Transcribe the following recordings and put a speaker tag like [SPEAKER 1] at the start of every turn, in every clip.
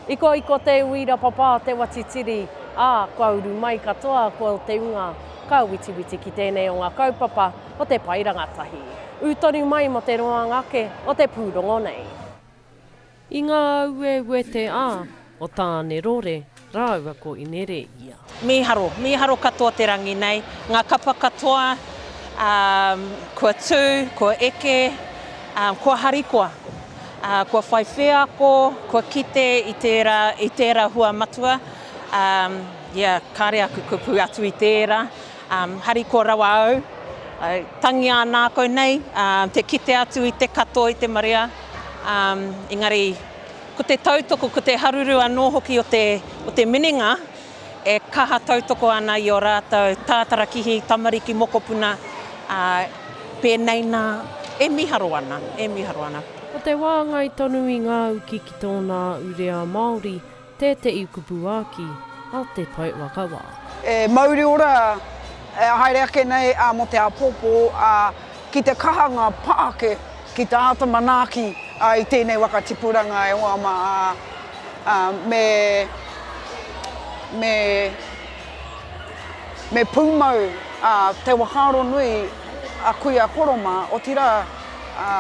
[SPEAKER 1] I kō i kō te uira papā te watitiri, ā, kua uru mai katoa kō te unga ka witiwiti ki tēnei o ngā kaupapa o te pae rangatahi. Ū tonu mai mō te roanga ake o te pūrongo nei. I ngā auēuē te a o Tāne Rore rāua ko Inereia. Mīharo, mīharo
[SPEAKER 2] katoa te rangi nei, ngā kapa katoa kua tū, kua eke, kua harikoa, kua whai wheako, kua kite i tērā, i tērā hua matua, ia, kāre aku kupu atu i tērā, Um, harikoa rawa au. Uh, tangi a nākau nei, uh, te kite atu i te katoa, i te marea. Um, engari, ko te tautoko, ko te haruru anō hoki o te, o te minenga, e kaha tautoko ana i o rātou tātarakihi, tamariki, mokopuna, uh, pēnei nā, e miharo ana, e miharo ana. Ko
[SPEAKER 1] te wāngai tonu i ngā uki ki tōna ure a Māori, Tēteʻi kupu āki a Te Pae Wakawa. E mauri
[SPEAKER 3] ora, e haere ake nei mō te āpōpō, ā, ki te kaha ngā pā ake ki te āta manaaki i tēnei waka tipuranga e hoa mā, ā, me, me, me pūmau te whakaaro nui a Kuia Koroma, otirā, ā,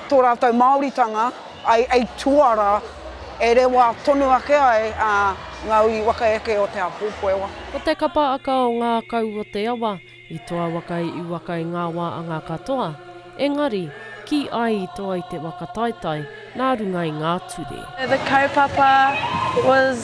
[SPEAKER 3] tō rātou Māoritanga. Ai, ai tuara, e rewa tonu ake ai nga ui waka eke o te Apopoewa. Ko te kapa aka
[SPEAKER 1] o nga kau o te awa, i toa wakai i waka i nga wa anga katoa, engari, ki ai i toa i te waka taetae na runga i nga ture. The kaupapa
[SPEAKER 4] was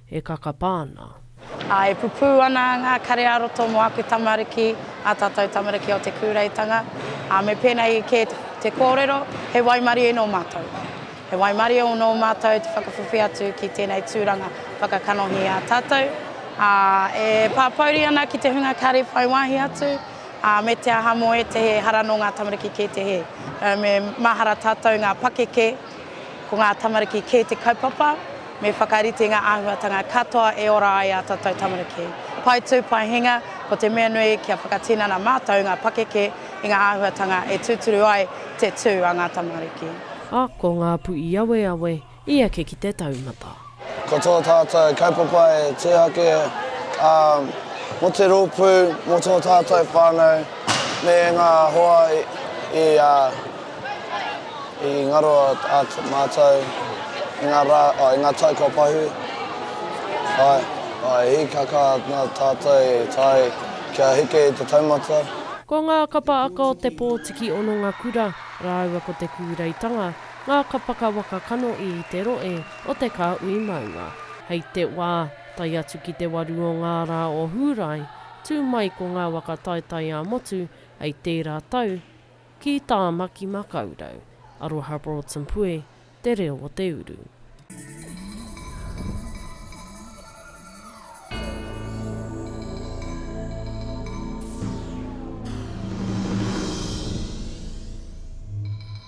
[SPEAKER 1] e kakapa ana. Ā, e pupū
[SPEAKER 5] ana ngā kare-ā-roto mō aku tamariki, ā tātou tamariki o te kūreitanga, ā, me pēnei kē te kōrero, he waimarie nō mātou. He waimarie nō mātou te whakawhiwhi atu ki tēnei tūranga whakakanohi i a tātou, ā, e pāpouri ana ki te hunga kare whai wāhi atu, ā, me te aha mō ētehi ehara nō ngā tamariki kē te hē. Me mahara tātou ngā pakeke. Ko ngā tamariki kē te kaupapa, me whakarite ngā āhuatanga katoa e ora ai ā tātou tamariki. Pae tū, pae hinga, ko te mea nui kia whakatinana mātou ngā pakeke i ngā āhuatanga e tūturu ai te tū a ngā tamariki. Ako ngā
[SPEAKER 1] puiaweawe i eke ki te taumata. Ko tō
[SPEAKER 6] tātou kaupapa e tū ake mō te rōpū, mō tō tātou whānau me ngā hoa i ngaro atu mātou i ngā rā, i ngā tau kua pahū. Āe, he hīkaka nā tātou e taea kia heke i te taumata. Ko ngā kapa
[SPEAKER 1] aka o te pōtiki hononga kura rāua ko te kūreitanga Ngā kapaka waka kano i te roe o te kāhui maunga. Hei te wā, tae atu ki te waru o ngā rā o Hūrae, tū mai ko ngā waka taetae ā-motu hei tērā tau ki Tāmaki Makaurau. Aroha Broughton Pue, Te Reo o te Uru.